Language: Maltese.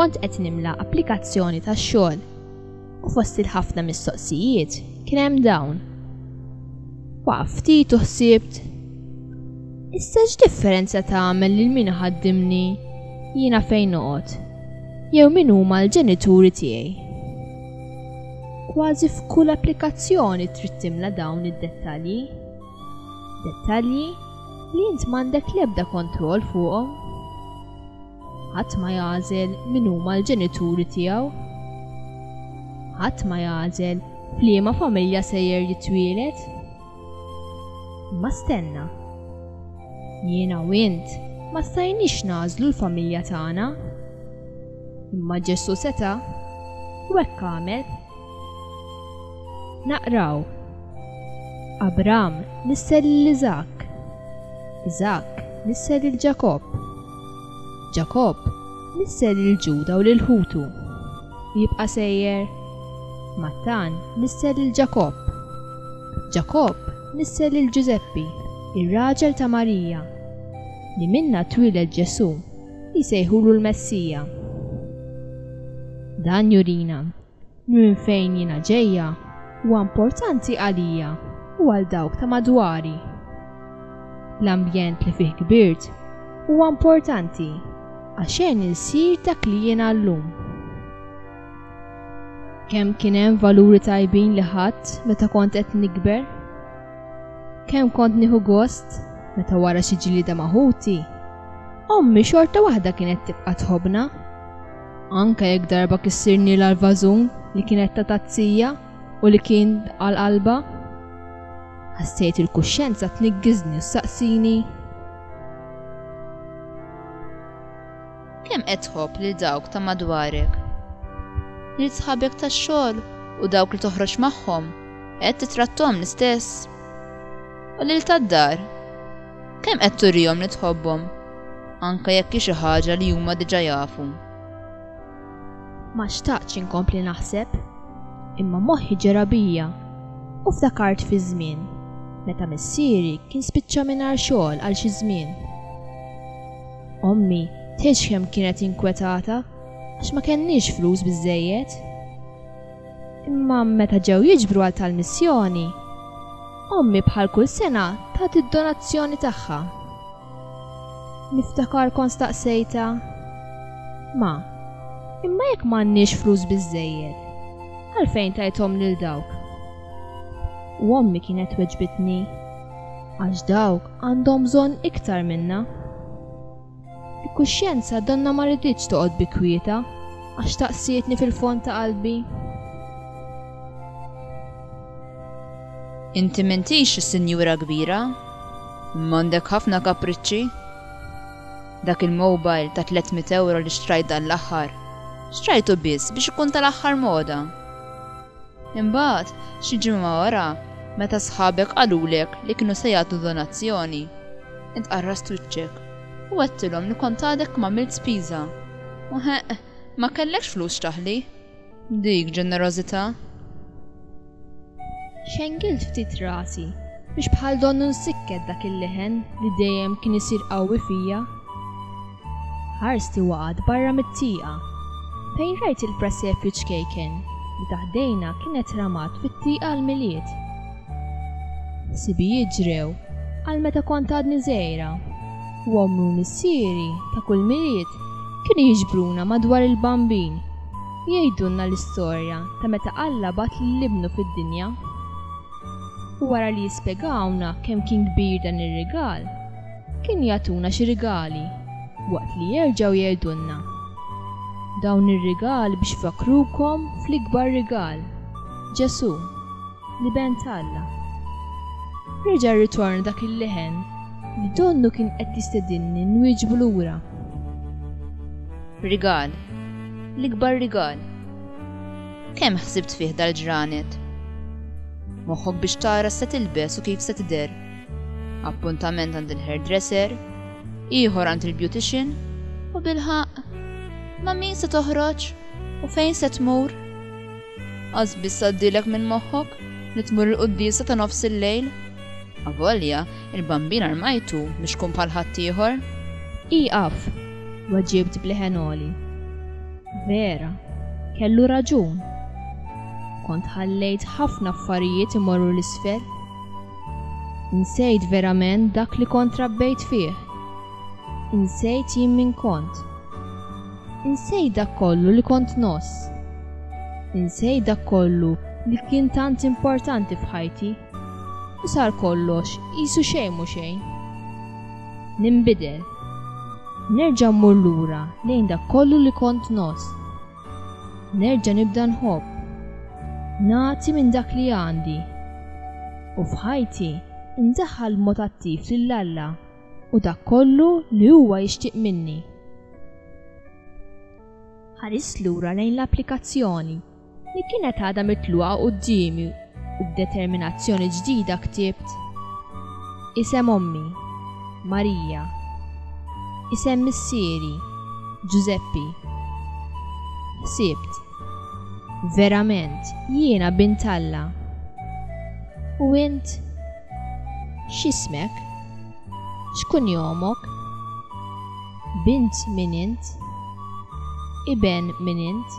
kont qed nimla applikazzjoni tax-xogħol u fost il-ħafna mistoqsijiet kien hemm dawn. Waqaf ftit u ħsibt. Issa x'differenza tagħmel lil min ħaddimni jiena fejn noqgħod Jew min huma l-ġenituri tiegħi. Kważi f'kull applikazzjoni trid timla dawn id-dettalji. Dettalji li int m'għandek l-ebda kontroll fuqhom. Ħadd ma jagħżel min huma l-ġenituri tiegħu. Ħadd ma jagħżel f'liema familja sejjer jitwielet. Ma stenna. Jiena u int ma stajniex nagħżlu l-familja tagħna. Imma Ġesù seta' u hekk għamel. Naqraw. Abram nisser lil Iżak. Iżak nisser lil Ġakobb. Ġakobb nisser lil Ġuda u lil ħutu, u jibqa' sejjer. Mattan nisser lil Ġakobb. Ġakobb nisser lil Ġużeppi, ir-raġel ta' Marija, li minnha twieled Ġesù li jsejħulu l-Messija. Dan jurina Minn fejn jiena ġejja huwa importanti għalija u għal dawk ta' madwari. L-ambjent li fih kbirt huwa importanti għax għenni nsir dak li jiena llum. Kemm kien hemm valuri tajbin li ħadt meta kont qed nikber? Kemm kont nieħu gost meta wara xi ġlieda ma' ħuti? Ommi xorta waħda kienet tibqa' tħobbna. Anke jekk darba kissirnielha l-vażun li kienet ta' tazzija u li kien għal qalba, ħassejt il-kuxjenza tniggiżni u saqsini. Kemm qed tħobb lil dawk ta' madwarek? Lil sħabek tax-xogħol u dawk li toħroġ magħhom qed titrattom l-istess? U lil tad-dar? Kemm qed turihom li tħobbhom, anke jekk hi xi ħaġa li huma diġà jafu? Ma xtaqtx inkompli naħseb, imma moħħi ġera bija u ftakart fiż-żmien meta missieri kien spiċċa mingħajr xogħol għal xi żmien. Ommi tgħidx kemm kienet inkwetata għax ma kenniex flus biżżejjed. Imma meta ġew jiġbru għal tal-missjoni, ommi bħal kull sena tat id-donazzjoni tagħha. Niftakar kont staqsejta, Ma, imma jekk m'għandniex flus biżżejjed, għalfejn tajthom lil dawk? U ommi kienet weġbitni, għax dawk għandhom bżonn iktar minna. Il-kuxjenza donnha ma riditx toqgħod bi kwietha għax staqsietni fil-fond ta' qalbi. Inti m'intix sinjura kbira? M'għandek ħafna kapriċċi? Dak il-mobile ta' tlett mitt ewro li xtrajt dan l-aħħar, xtrajtu biss biex ikun tal-aħħar moda. Imbagħad, xi ġimgħa wara, meta sħabek qalulek li kienu se jagħtu donazzjoni, int qarrast wiċċek u għedtilhom li kont għadek m'għamilt spiża u, heq, ma kellekx flus x'taħli. Dik ġenerożità? Xengilt ftit rasi Biex bħal donnu nsikket dak il-leħen li dejjem kien isir qawwi fija. Ħarst li waqgħet barra mit-tieqa fejn rajt il-presepju ċkejken li taħdejna kienet ramat fit-tieqa l-Milied. Sibijiet ġrew għal meta kont għadni żgħira u ommi u missieri ta' kull Milied kienu jiġbruna madwar il-bambin jgħidulna l-istorja ta' meta Alla bat lil ibnu fid-dinja. U wara li jispjegawlna kemm kien kbir dan ir-rigal, kienu jagħtuna xi rigali waqt li jerġgħu jgħidulna, Dawn ir-rigali biex ifakkrukom fl-ikbar rigal, Ġesù, l-Iben t'Alla. Reġa' rritorna dak il-leħen li donnu kien qed jistedinni nwieġbu lura. Rigal, l-ikbar rigal. Kemm ħsibt fih dal-ġranet? Moħħok biex tara x'se tilbes u kif se tidher. Appuntament għand il-hairdresser, ieħor għand il-beautician u bilħaq ma' min se toħroġ u fejn se tmur. Qas biss għaddilek minn moħħok li tmur il-quddiesa ta' nofs il-lejl. Avolja, il-bambin armajtu biex tkun bħal ħaddieħor. Ieqaf! weġibt b'leħen għoli. Vera, kellu raġun. Kont ħallejt ħafna affarijiet imorru l-isfel. Insejt verament dak li kont rabbejt fih. Insejt jien min kont. Insejt dak kollu li kont nos. Insejt dak kollu li kien tant importanti f'ħajti. U sar kollox, jisu xejn mu xejn. Nimbidel. Nerġa' mmur lura lejn dak kollu li kont ngħożż. Nerġa' nibda nħobb. Nagħti minn dak li għandi. U f'ħajti ndaħħal b'mod attiv lil Alla u dak kollu li huwa jixtieq minni. Ħarist lura lejn l-applikazzjoni. Li kienet għadha mitluqa quddiemi u b'determinazzjoni ġdida ktibt, Isem ommi, Marija. Isem missieri, Ġużeppi. Ħsibt, Verament, jiena bint Alla. U int? X'ismek? X'kunjomok? Bint min int? Iben min int?